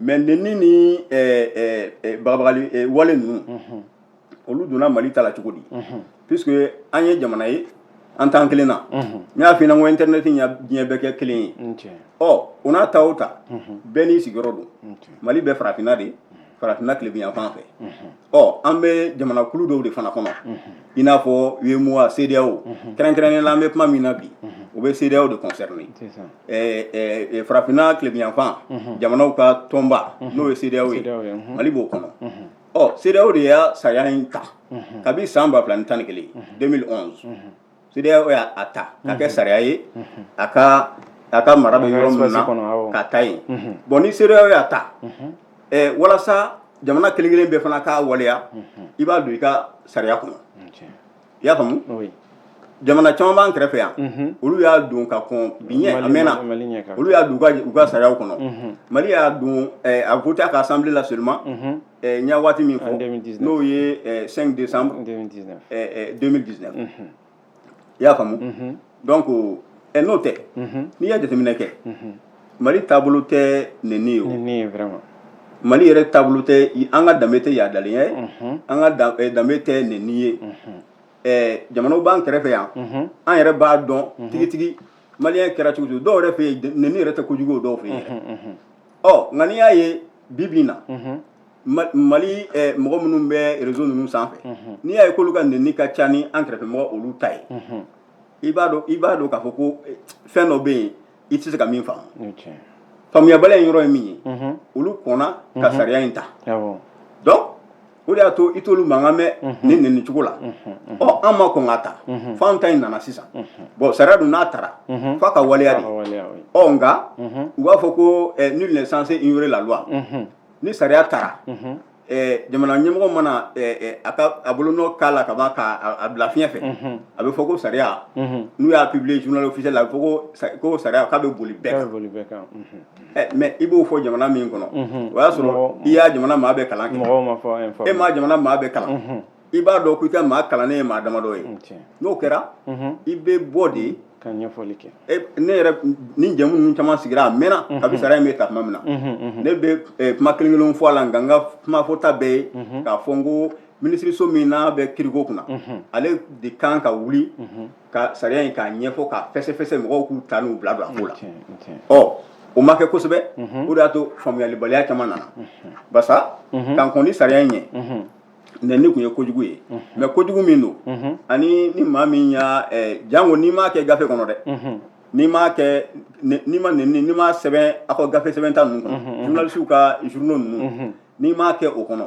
mais nenni ni bagabagali wale ninnu olu donna mali ta la cogo di puisque an ye jamana ye an t'an kelen na n y'a f'i ɲɛna ko internet ye diɲɛ bɛɛ kɛ kelen ye ɔ o n'a ta o ta bɛɛ n'i sigiyɔrɔ don mali bɛ farafinna de farafinna tilebinyanfan fɛ ɔ an bɛ jamanakulu dɔw de fana kɔnɔ i n'a fɔ UEMOA CEDEAO kɛrɛnkɛrɛnnen la an bɛ kuma min na bi o bɛ CEDEAO de concerner ɛɛ ɛɛ farafinna tilebinyanfan jamanaw ka tɔnba n'o ye CEDEAO ye Mali b'o kɔnɔ ɔ CEDEAO de y'a sariya in ta kabi san ba fila ni tan ni kelen 2011 CEDEAO y'a ta k'a kɛ sariya ye a ka a ka mara bɛ yɔrɔ min na k'a ta yen bon ni CEDEAO y'a ta walasa jamana kelen kelen bɛɛ fana k'a waleya i b'a don i ka sariya kɔnɔ i y'a faamu jamana caman b'an kɛrɛfɛ yan olu y'a don ka kɔn bi ɲɛ a mɛnna olu y'a don u ka sariyaw kɔnɔ Mali y'a don a voté a ka assemblée la seulement eh, n y'a waati min fɔ n'o ye 5 eh, décembre 2019 eh, mhm. i y'a faamu mhm. donc n'o tɛ mhm. n'i y'a jateminɛ kɛ mali taabolo tɛ neni ye o mali yɛrɛ taabolo tɛ an ka danbe tɛ yaadalenya ye an ka danbe tɛ neni ye jamanaw b'an kɛrɛfɛ yan an yɛrɛ b'a dɔn tigitigi maliyɛn kɛra cogo cogo dɔw yɛrɛ fɛ yen neni yɛrɛ tɛ kojugu o dɔw fɛ yen ɔ nka n'i y'a ye bi bi in na mali mɔgɔ minnu bɛ réseau ninnu sanfɛ n'i y'a ye k'olu ka nɛni ka ca ni an kɛrɛfɛ mɔgɔ olu ta ye i b'a dɔn i b'a dɔn k'a fɔ ko fɛn dɔ bɛ yen i tɛ se ka min faamu faamuyabaliya in yɔrɔ ye min ye olu kɔnna ka sariya in ta donc o de y'a to i t'olu mankan mɛn ni nin nin cogo la ɔ an ma kɔn k'a ta fo an ta in nana sisan bon sariya dun n'a tara f'a ka waleya de ɔ nka u b'a fɔ ko eh, nul n'est censé ignorer la loi ni sariya tara eh, jamana ɲɛmɔgɔ mana eh, eh, a ka a bolonɔ k'a la ka ban ka a- a bila fiɲɛ fɛ a bɛ fɔ ko sariya n'u y'a publier journal officiel la a bɛ fɔ ko sa- ko sariya k'a bɛ boli bɛɛ kan mais i b'o fɔ jamana min kɔnɔ o y'a sɔrɔ i y'a jamana maa bɛɛ kalan e m'a jamana maa bɛɛ kalan i b'a dɔn ko i ka maa kalannen ye maa damadɔ ye n'o kɛra i bɛ bɔ de ne yɛrɛ ni jamu ninnu caman sigira a mɛnna kabi sariya in bɛ ta tuma min na ne bɛ kuma kelen kelen fɔ a la nka n ka kumafɔta bɛɛ ye k'a fɔ n ko minisiriso min n'a bɛ kiriko kunna ale de kan ka wuli ka sariya in k'a ɲɛfɔ k'a fɛsɛfɛsɛ mɔgɔw k'u ta n'u bila bila a ko la tiɲɛ tiɲɛ ɔ o ma kɛ kosɛbɛ o de y'a to faamuyalibaliya caman nana basa ka kɔn nin sariya in ɲɛ nɛni tun ye kojugu ye mais kojugu min don ani ni maa min y'a eh, janko n'i m'a kɛ gafe kɔnɔ dɛ n'i m'a kɛ ne- n'i ma nɛni n'i ma sɛbɛn aw ka gafe sɛbɛnta ninnu kɔnɔ journalisiw ka journaux ninnu n'i m'a kɛ o kɔnɔ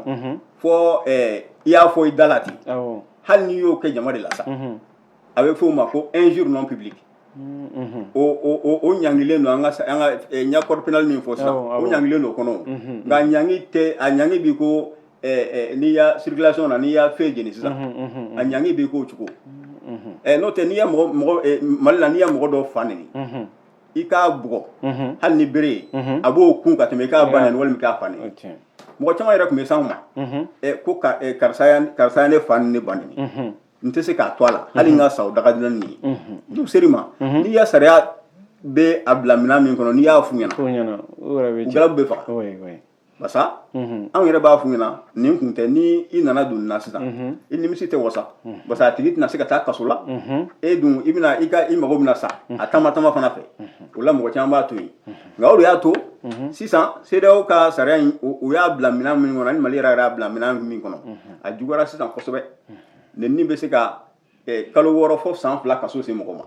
fɔ i y'a fɔ i da la ten hali n'i y'o kɛ jama de la sa a bɛ f'o ma ko injure non publique o ɲangilen don an ka an ka n y'a code pénal min fɔ sisan o ɲangilen don o kɔnɔ nka a ɲangi tɛ a ɲangi b'i ko n'i y'a circulation na n'i ya feu jeni sisan a ɲangi b'i k'o cogo n'o tɛ n'i ye mɔgɔ mɔgɔ Mali la n'i ye mɔgɔ dɔ fa nɛni i k'a bugɔ mhm. hali ni bere ye mhm. a b'o kun ka tɛmɛ i k'a ba nɛni walima i k'a fa nɛni mɔgɔ caman yɛrɛ tun bɛ s'anw ma mhm. ko karisa ya ne fa ni ne ba nɛni n tɛ se k'a to a la hali n ka sa o da ka di n na nin ye n'u ser'i ma n'i ya sariya bɛ a bila minɛn min kɔnɔ n'i y'a f'u ɲɛna u galabu bɛ faga basa mhm. anw yɛrɛ b'a f'u ɲɛna nin kun tɛ ni i nana don nin na sisan mhm. i nimisi tɛ wasa mhm. basa a tigi tɛna se ka taa kaso la e dun i bɛna i ka i mago bɛna sa a tama tama fana fɛ o la mɔgɔ caman b'a to yen nka o de y'a to sisan CEDEAO ka sariya in u y'a bila minɛn min kɔnɔ ani Mali yɛrɛ y'a bila minɛn min kɔnɔ a juguyara sisan kosɛbɛ nɛni bɛ se ka eh, kalo wɔɔrɔ fɔ san fila kaso se mɔgɔ ma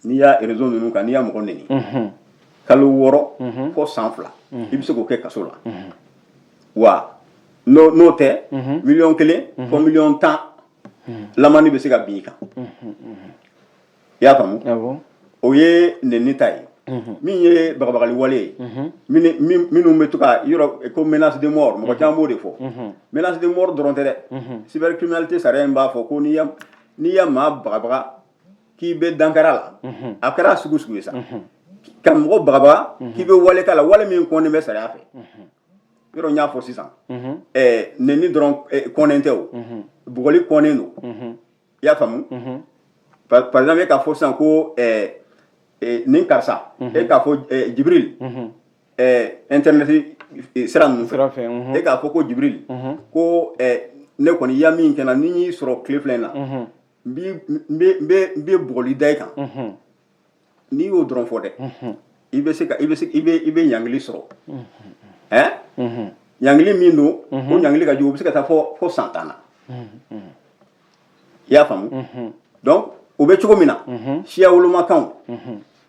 n'i y'a réseau ninnu kan n'i ya mɔgɔ nɛni kalo wɔɔrɔ fɔ san fila i bɛ se k'o kɛ kaso la wa n'o n'o tɛ miliyɔn kelen fɔ miliyɔn tan lamani bɛ se ka bin i kan i y'a faamu awɔ o ye nɛni ta ye min ye bagabagali wale ye minnu min- minnu bɛ to ka yɔrɔ ko menace de mort mɔgɔ caman b'o de fɔ menace de mort dɔrɔn tɛ dɛ cybercriminalité sariya in b'a fɔ ko n'i ya n'i ya maa bagabaga k'i bɛ dankar'a la a kɛra sugu sugu ye sa ka mɔgɔ bagabaga k'i bɛ wale k'a la wale min kɔnnen bɛ sariya fɛ yɔrɔ n y'a fɔ sisan ɛɛ nɛni dɔrɔn eh, kɔnnen tɛ o bugɔli kɔnnen don i y'a faamu par par exemple e k'a fɔ sisan ko ɛɛ eh, nin karisa e k'a fɔ eh, Jibril eh, internet eh, sira ninnu sira fɛ, mhm. e k'a fɔ ko Jibril ko eh, ne kɔni i ya min kɛ n na ni n y'i sɔrɔ tile fila in na n b'i- n bɛ- n bɛ n bɛ bugɔli da i kan n'i y'o dɔrɔn fɔ dɛ i bɛ se ka i bɛ se i bɛ i bɛ ɲangili sɔrɔ ɛn ɲangili min don o ɲangili ka jugu o bɛ se ka taa fɔ fɔ san tan na i y'a faamu donc o bɛ cogo min na siya wolomakanw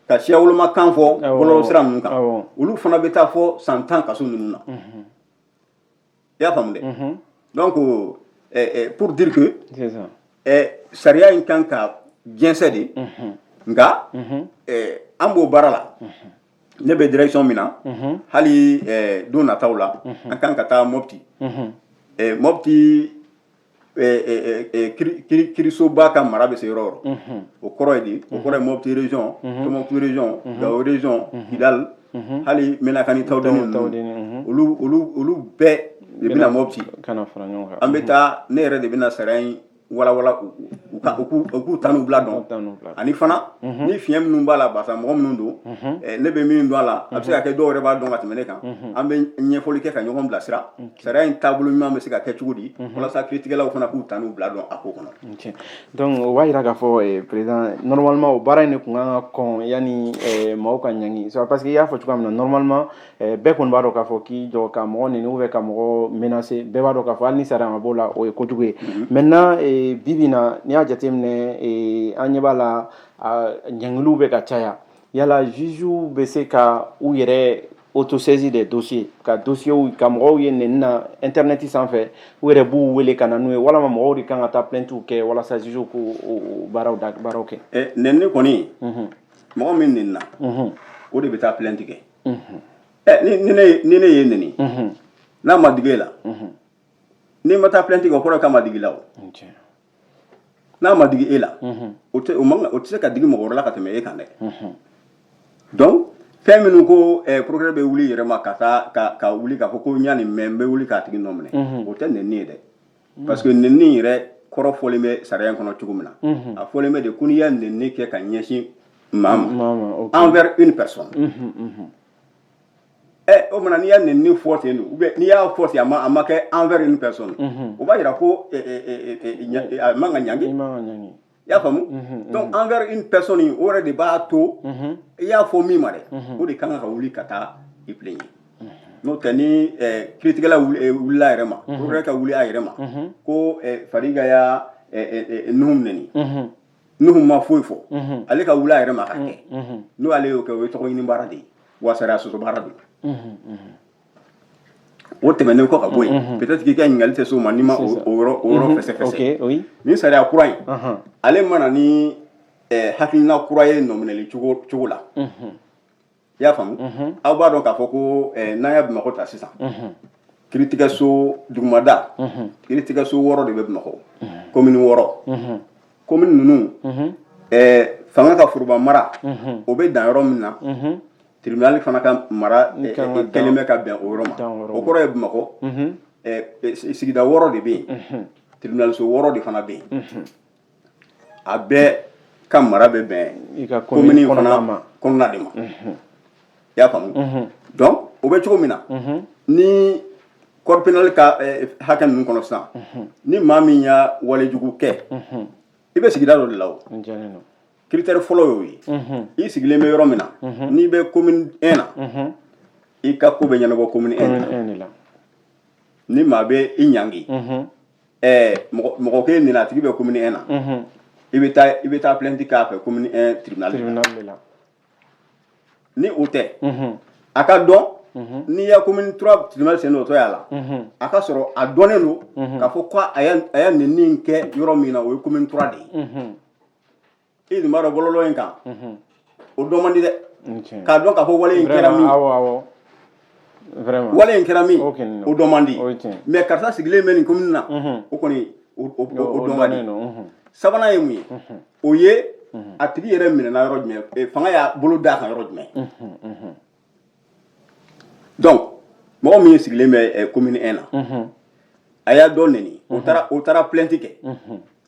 ka siya wolomakan fɔ bɔlɔlɔsira ninnu kan awɔ. olu fana bɛ taa fɔ san tan kaso ninnu na i y'a faamu dɛ donc pour dire que sariya in kan ka jɛnsɛn de nka an b'o baara la ne bɛ direction min na hali don nataw la an kan ka taa Mopti Mopti kiirisoba ka mara bɛ se yɔrɔ o yɔrɔ o kɔrɔ ye di o kɔrɔ ye Mopti région Tombouctou région Gao région Kidal hali Menaka ni Taoudeni olu bɛɛ de bɛna Mopti an bɛ taa ne yɛrɛ de bɛna sariya in walawala u k'u ta n'u bila dɔn ani fana ni fiɲɛ minnu b'a la basa mɔgɔ minnu don ne bɛ min dɔn a la a bɛ se ka kɛ dɔw yɛrɛ b'a dɔn ka tɛmɛ ne kan an bɛ ɲɛfɔli kɛ ka ɲɔgɔn bilasira sariya in taabolo ɲuman bɛ se ka kɛ cogo di mhm. walasa kiritigɛlaw fana k'u ta n'u bila dɔn a ko kɔnɔ donc o b'a jira k'a fɔ eh, président normalement o baara in de tun kan ka kɔn yanni eh, maaw ka ɲangi parce que i y'a fɔ cogoya min na normalement eh, bɛɛ kɔni b'a dɔn k'a fɔ k'i jɔ ka mɔgɔ nɛni ou bien ka mɔgɔ menacer bɛɛ b'a dɔn k'a fɔ hali ni sariya ma b'o la o ye kojugu ye mhm. maintenant bi bi in na n'i y'a jateminɛ an ɲɛ b'a la ɲangiliw bɛ ka caya Yala juges bɛ se ka u yɛrɛ autosaisir des dossiers ka dossiers u ka mɔgɔw ye nɛni na internet sanfɛ u yɛrɛ b'u wele ka na n'u ye walama mɔgɔw de kan ka taa plaintes kɛ walasa juges k'o baaraw kɛ ɛ nɛni kɔni mɔgɔ min nɛnina o de bɛ taa plainte kɛ ɛ ni ne y'e nɛni n'a ma digi e la n'i ma taa plainte kɛ o kɔrɔ ye k'a ma digi i la o n'a ma digi e la o tɛ o man o tɛ se ka digi mɔgɔ wɛrɛ la ka tɛmɛ e kan dɛ donc fɛn minnu ko eh, procureur bɛ wuli yɛrɛ ma ka taa ka ka wuli k'a fɔ ko n y'a nin mɛn n bɛ wuli k'a tigi nɔ minɛ o tɛ nɛni ye dɛ parce que nɛni yɛrɛ kɔrɔ fɔlen bɛ sariya in kɔnɔ cogo min na a fɔlen bɛ de ko n'i y'a nɛni kɛ ka ɲɛsin maa ma envers une personne ɛ o mana n'i y'a nɛni ni fɔ ten don ou bien n'i y'a fɔ ten a ma a ma kɛ envers une personne o b'a jira ko ɛ, ɛ, ɛ, ɛ, ɛ, ɲa- ɛ, a man ka ɲangi i man ka ɲangi i y'a faamu donc envers une personne o yɛrɛ de b'a to i y'a fɔ min ma dɛ o de kan ka wuli ka taa i plaigner n'o tɛ ni ɛ, kiritigɛla wuli- ɛ, wulila a yɛrɛ ma o yɛrɛ ka wuli a yɛrɛ ma ko ɛ, Fariga y'a ɛ, ɛ, ɛ, Nuhum nɛni Nuhum ma foyi fɔ ale ka wuli a yɛrɛ ma ka kɛ n'o ale y'o kɛ o ye tɔgɔ ɲini baara de ye wa sariya sɔsɔ baara de ye o tɛmɛnen kɔ ka bɔ yen peut-être k'i ka ɲininkali tɛ s'o ma n'i ma o o yɔrɔ o yɔrɔ fɛsɛfɛsɛ ok oui nin sariya kura in ale ma na ni eh, hakilina kura ye nɔminɛli cogo cogo la i y'a faamu aw b'a dɔn k'a fɔ ko eh, n'an ye bamakɔ ta sisan kiritigɛso dugumada kiritigɛso wɔɔrɔ de bɛ bamakɔ komini wɔɔrɔ komini ninnu eh, fanga ka foroba mara o bɛ dan yɔrɔ min na tribunali fana ka mara eh, Kan ka eh, kɛlen bɛ ka bɛn o yɔrɔ ma Dan o yɔrɔ o kɔrɔ ye bamakɔ eh, eh, sigida wɔɔrɔ de bɛ yen tribunaliso wɔɔrɔ de fana bɛ yen a bɛɛ ka mara bɛ bɛn i ka commune kɔnɔna fana ma. kɔnɔna de ma i y'a faamu donc o bɛ cogo min na ni code pénal ka eh, hakɛ ninnu kɔnɔ sisan ni maa min y'a wale jugu kɛ i bɛ sigida dɔ de la o n jɛlen don critère fɔlɔ y'o ye i sigilen bɛ yɔrɔ min na n'i bɛ commune 1 na i ka ko bɛ ɲɛnabɔ commune 1 de la commune 1 de la ni maa bɛ i ɲangi mɔgɔ kɛ nin a tigi bɛ kɔmi e na i bɛ taa i bɛ taa plɛti k'a fɛ kɔmi la ni o tɛ a ka dɔn n'i ya kɔmimiura sen oto' la a ka sɔrɔ a dɔnnen don k kaa fɔ ko a ye nin kɛ yɔrɔ min na o ye kɔmimiura de ye i dun b'a dɔn bɔlɔlɔ in kan o dɔn man di dɛ k'a dɔn k'a fɔ wale in kɛra min wale in kɛra min o dɔn man di mais karisa sigilen bɛ nin komini na o kɔni o dɔn ka di sabanan ye mun ye o ye a tigi yɛrɛ minɛna yɔrɔ jumɛn eh, fanga y'a bolo d'a kan yɔrɔ jumɛn donc mɔgɔ min sigilen bɛ komini eh, 1 na a y'a dɔ neni o taara plainte kɛ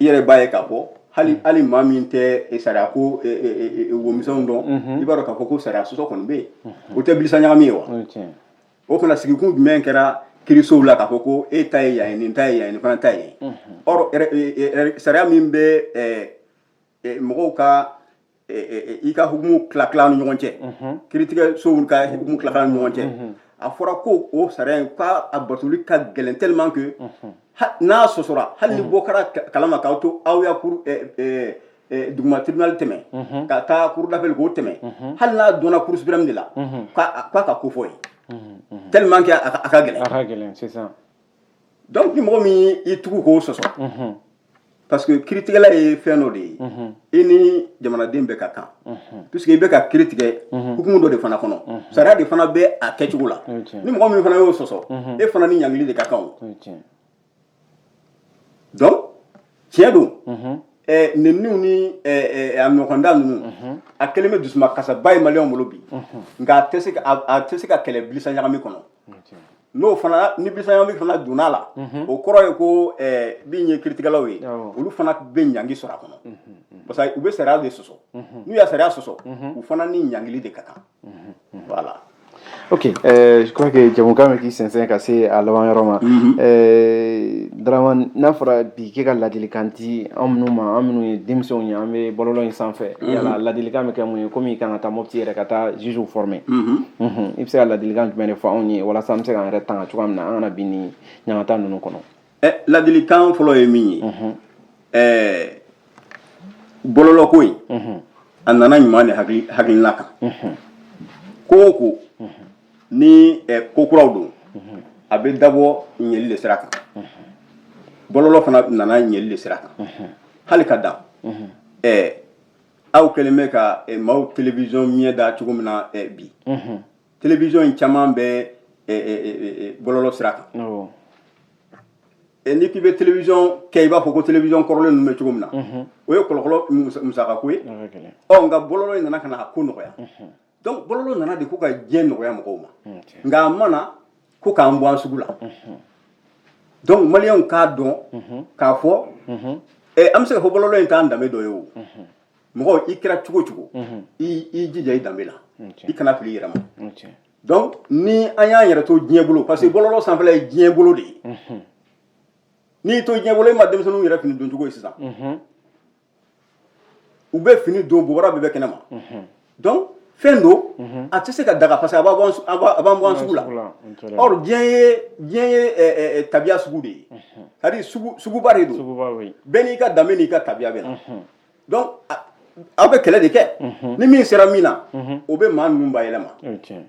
i yɛrɛ b'a ye k'a fɔ hali hali maa min tɛ eh, sariya ko eh, eh, eh, womisɛnw dɔn Mhm. i b'a dɔn k'a fɔ ko sariya sɔsɔ kɔni bɛ yen o tɛ bilisa ɲagami ye wa o ye tiɲɛ ye. o fana sigikun jumɛn kɛra kirisow la k'a fɔ ko e ta ye yan ye nin ta ye yan ye nin fana ta ye yen Mhm. or er- er- er- sariya min bɛ eh, eh, mɔgɔw ka eh, eh, eh, i ka hukumu tilatila ni ɲɔgɔn cɛ kiritigɛsow ka hukumu tilatila ni ɲɔgɔn cɛ a fɔra ko o sariya in k'a batoli ka gɛlɛn tellement que ha- n'a sɔsɔra hali ni bɔ kɛra ka- kalama k'a to aw ye cour eh, eh, eh, duguma tribunal tɛmɛ ka taa cour d'appel k'o tɛmɛ hali n'a dɔnna cour suprême de la k'a a- k'a ka kofɔ yen tellement que a ka- a ka gɛlɛn a ka gɛlɛn sisan donc ni mɔgɔ min y'i tugu k'o sɔsɔ mhm. parce que kiritigɛla ye fɛn dɔ de ye mhm. i ni jamanaden bɛɛ ka kan mhm. puisque i bɛ ka kiri tigɛ hukumu dɔ de fana kɔnɔ sariya de fana bɛ a kɛcogo la ni mɔgɔ min fana y'o sɔsɔ e fana ni ɲangili de ka kan o donc tiɲɛ don eh, neniniw ni eh, eh, a ɲɔgɔnda ninnu a kɛlen bɛ dusuma kasaba ye maliyɛnw bolo bi nka a tɛ se ka kɛlɛ bilisa ɲagami kɔnɔ n'o fana ni bisaɲɔli fana donna la o kɔrɔ ye ko min ye kiritigɛlaw ye olu fana bɛ ɲangi sɔrɔ a kɔnɔ parce que u bɛ sariya de sɔsɔ n'u ye sariya sɔsɔ u fana ni ɲangili de ka kan voilà ok je crois que jɛmukan bɛ k'i sɛnsɛn ka se a laban yɔrɔ ma Dramane n'a fɔra bi k'i ka ladilikan di anw minnu ma, an minnu ye denmisɛnw ye, an bɛ bɔlɔlɔ in sanfɛ, unhun, yala ladilikan bɛ kɛ mun ye comme i ka kan ka taa Mopti yɛrɛ ka taa juges former , unhun, i bɛ se ka ladilikan jumɛn de fɔ anw ye walasa an bɛ se k'an yɛrɛ tanga cogoya min na an kana bin nin ɲangata ninnu kɔnɔ? Ɛ ladilikan fɔlɔ ye min ye, unhun, ɛɛ bɔlɔlɔ ko in, unhun, a nana ɲuman de hakilina kan, unhun, ko o ko ni eh, ko kuraw don a bɛ dabɔ ɲɛli de sira kan bɔlɔlɔ fana nana ɲɛli de sira kan hali ka dan eh, aw kɛlen bɛ ka eh, maaw telewisɔn ɲɛ da cogo min na eh, bi telewisɔn in caman bɛ eh, eh, eh, eh, bɔlɔlɔ sira kan awɔ Eh, n'i k'i bɛ telewisɔn kɛ i b'a fɔ ko telewisɔn kɔrɔlen ninnu bɛ cogo min na o ye kɔlɔkɔlɔ musa- musakako ye a ka gɛlɛn ɔ nka bɔlɔlɔ in nana ka na a ko nɔgɔya donc bɔlɔlɔ nana de ko ka diɲɛ nɔgɔya mɔgɔw ma nka a ma na ko k'an bɔ an sugu la donc maliyɛnw k'a dɔn k'a fɔ eh, an bɛ se ka fɔ bɔlɔlɔ in t'an danbe dɔ ye o mɔgɔ i kɛra cogo cogo i i jija i danbe la i kana fili i yɛrɛ ma donc ni an y'an yɛrɛ to diɲɛ bolo parce que bɔlɔlɔ sanfɛla ye diɲɛ bolo de ye n'i y'i to diɲɛ bolo i ma denmisɛnninw yɛrɛ fini doncogo ye sisan u bɛ fini don bobara bɛɛ bɛ kɛnɛ ma donc fɛn don a tɛ se ka daga parce que a b'a bɔ an- a b'a- a b'an bɔ an sugu la sugu la, n tɛnɛn. or diɲɛ ye diɲɛ ye ɛ, ɛ, ɛ, tabiya sugu de ye c'est-à-dire sugu suguba de don suguba bɛ yen bɛɛ n'i ka danbe n'i ka tabiya bɛ na donc a- aw bɛ kɛlɛ de kɛ ni min sera min na o bɛ maa ninnu bayɛlɛma o ye tiɲɛ ye.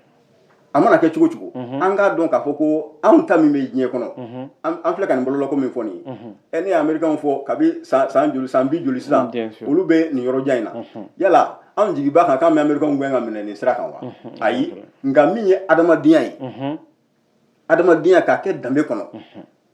a mana kɛ cogo cogo mhm. an k'a dɔn k'a fɔ ko anw ta min bɛ diɲɛ kɔnɔ mhm. an filɛ ka nin bɔlɔlɔko min fɔ nin ye mhm. ɛ ne ye amerikanw fɔ kabi san joli san bi joli sisan olu bɛ nin yɔrɔjan in na yala anw jigi b'a kan k'an bɛ amerikanw gɛn ka minɛ nin sira kan wa ayi nka min ye adamadenya ye adamadenya k'a kɛ danbe kɔnɔ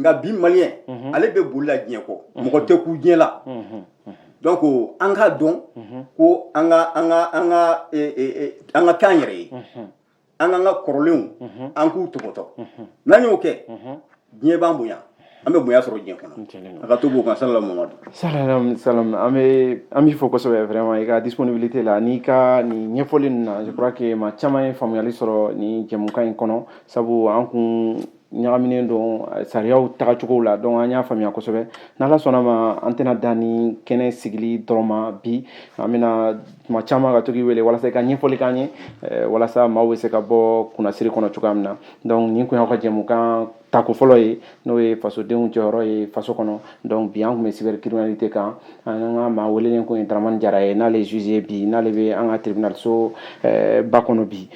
nka bi maliyɛn mhm. ale bɛ boli la diɲɛ kɔ mhm. mɔgɔ tɛ kun diɲɛ la mhm. donc an k'a dɔn ko an ka an ka an ka e, e, e, an ka k'an yɛrɛ ye an k'an ka kɔrɔlenw an k'u tɔpɔtɔ n'an y'o kɛ diɲɛ b'an bonya an bɛ bonya sɔrɔ diɲɛ kɔnɔ a ka to b'o kan salala mamadu salalam salam an bɛ an b'i fo kosɛbɛ vraiment i ka disponibilité la n'i ka nin ɲɛfɔli ninnu na je crois que maa caman ye faamuyali sɔrɔ nin jɛmukan in kɔnɔ sabu an kun ɲagaminen don eh, sariyaw tagacogow la donc an y'a faamuya kosɛbɛ n'ala sɔnna ma an tɛna dan ni kɛnɛ sigili dɔrɔn ma bi an bɛna tuma caman ka to k'i wele walasa i ka ɲɛfɔli k'an ye eh, walasa maaw bɛ se ka bɔ kunnasiri kɔnɔ cogoya min na donc nin kun y'aw ka jɛmukan tako fɔlɔ ye n'o ye fasodenw jɔyɔrɔ ye faso kɔnɔ donc bi an kun bɛ cybercriminalité kan an ka maa welelen kun ye daramani jara ye n'ale ye juge ye bi n'ale bɛ an ka tribunal so eh, ba kɔnɔ bi